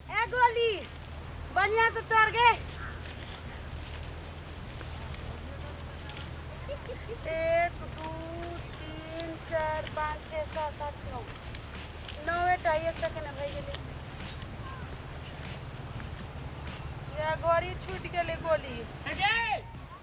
ए गोली बढ़िया से चढ़ गए एक दू तीन चार पाँच छः सात आठ नौ नौवे टा एक सेकेंड भए गेलै या गोरी छूट गेलै गोली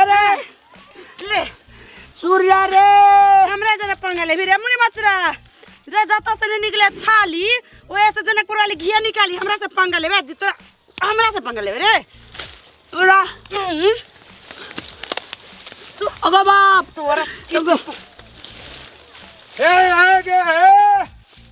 अरे ले सूर्या रे हमरा जना पंगा ले रे मुनि मचरा रे जता से नहीं निकले छाली ओए से जना कोराली घिया निकाली हमरा से पंगा लेबे दी तोरा हमरा से पंगा लेबे रे तोरा हम्म, तू अगो बाप तोरा ए आगे ए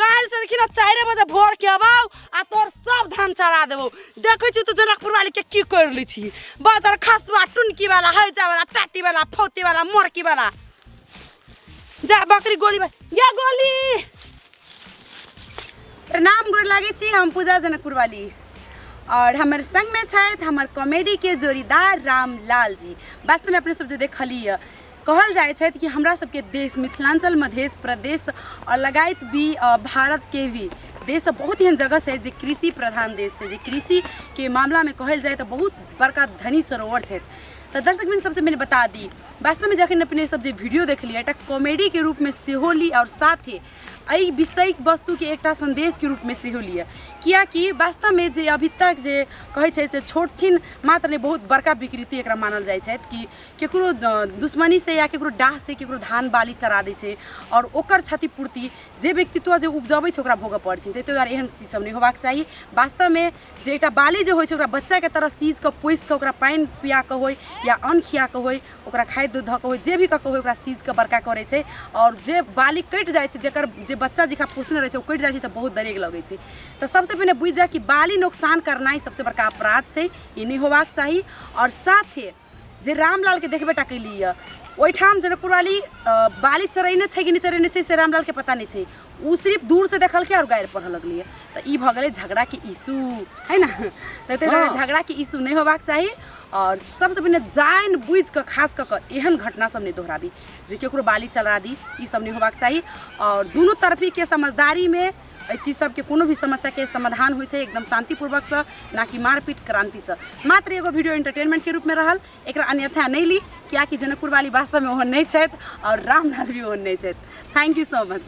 काल से देखी ना चारे बजे भोर के अबाऊ आ तोर सब धान चरा देबो देखै छी तो जनकपुर वाली के की कर लै छी बाजार खसवा टुनकी वाला हैजा वाला टाटी वाला फौती वाला मोरकी वाला जा बकरी गोली बा- या गोली प्रणाम गोर लागै छी हम पूजा जनकपुर वाली और हमर संग में छथि हमर कॉमेडी के जोड़ीदार रामलाल जी वास्तव में अपने सब जे देखलिए कहल जाइ छथि कि हमरा सबके देश मिथिलाञ्चल मधेश प्रदेश अ, लगायत भी अ, भारत के भी देश सब बहुत एहन जगह छै जे कृषि प्रधान देश छै जे कृषि के मामला में कहल जाय तऽ बहुत बड़का धनी सरोवर छथि तऽ दर्शक मित्र सबसे पहिले बता दी वास्तव में जखन अपने सब जे वीडियो देखलियै एकटा कॉमेडी के रूप में सेहो ली और साथे एहि विषय वस्तु के एकटा संदेश के रूप में सेहो लिअ कियाकि वास्तव में जे अभी तक जे कहै छै से छोट छिन मात्र नहि बहुत बड़का विकृति एकरा मानल जाइ छथि कि केकरो दुश्मनीसँ या केकरो डाहसँ केकरो धान बाली चरा दै छै आओर ओकर क्षतिपूर्ति जे व्यक्तित्व जे उपजबै छै ओकरा भोगऽ पड़ै छै ताहि दुआरे एहन चीज सब नहि होबाक चाही वास्तवमे जे एकटा बाली जे होइ छै ओकरा बच्चाके तरह सीज कऽ पोसि कऽ ओकरा पानि पिया कऽ होइ या अन्न खिया कऽ होइ ओकरा खाद्य धऽ कऽ होइ जे भी कऽ कऽ होइ ओकरा सीज कऽ बड़का करै छै आओर जे बाली कटि जाइ छै जकर जे बच्चा जेकरा पोसने रहै छै ओ कटि जाइ छै तऽ बहुत दरेग लगै छै तऽ सबसँ पहिने बुझि जाय कि बाली नोकसान करनाइ सबसँ बड़का अपराध छै ई नहि होबाक चाही आओर साथे जे रामलाल के देखबे टा कैली यऽ ओहिठाम जनकपुर वाली अ, बाली चरेने छै कि नहि चरेने छै से रामलाल के पता नहि छै ओ सिर्फ दूर से देखलकै और गारि पढ़ऽ लगलै यऽ। तऽ ई भऽ गेलै झगड़ा के इशू है ना तऽ ताहि दुआरे झगड़ा के इशू नहि होबाक चाही और सबसँ पहिने जानि बुझि कऽ खास कऽ कऽ एहन घटना सब नहि दोहराबी जे केकरो बाली चला दी ई सब नहि होबाक चाही और दुनू तरफी के समझदारी में एहि चीज सबके कोनो भी समस्या के समाधान होइ छै एकदम शांतिपूर्वक से ना कि मारपीट क्रांति से मात्र एगो वीडियो एंटरटेनमेंट के रूप में रहल एकरा अन्यथा नहीं ली कियाकि जनकपुर वाली वास्तव में ओहन नहीं छथि और रामलाल भी ओहन नहीं छथि थैंक यू सो मच